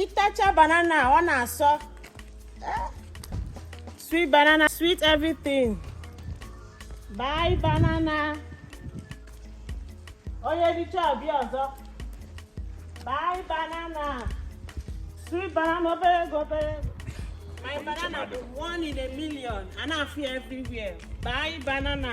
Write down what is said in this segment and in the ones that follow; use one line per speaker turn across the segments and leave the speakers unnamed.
ị tacha banana ọ na-asọ sweet banana sweet everything buy banana onye richa ọ bịa ọzọ buy banana sweet banana obere ego obere ego my banana bụ one in a million a na-afụ ya everywhere buy banana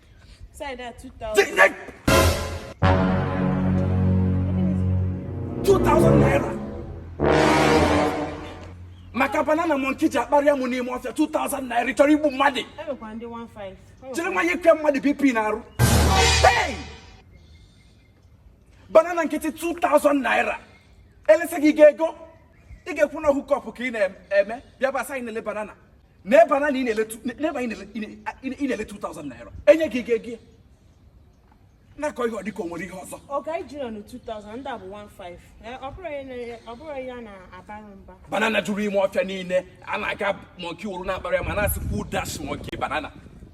Say that 2000. Like,
2000 naira. maka banana monkey ji akparị ya mụ n'ime ọfịa 2000 naira chọrọ igbu mmadụ
jiri nwayọ
kwa mmadụ bp na-arụ banana nkịtị 2000 naira elesa gị ga ego ị ga-ekwu na ọ hookup ka ị na-eme bịa basa anyị na-ele banana na banana n'ebe anyị na-ele 2000 naira enye gị ego gị na-akọ ihe ọ dịka o nwere ihe ọzọ oga iji nọ na 2000 ndị
a bụ 15 eh, ọ bụrụ ihe na- ọ bụrụ ihe a na-abara mba banana jụrụ
ime ọfịa niile a na-aga monkey wụrụ na-akpara ya ma na-asị kwuo dash monkey banana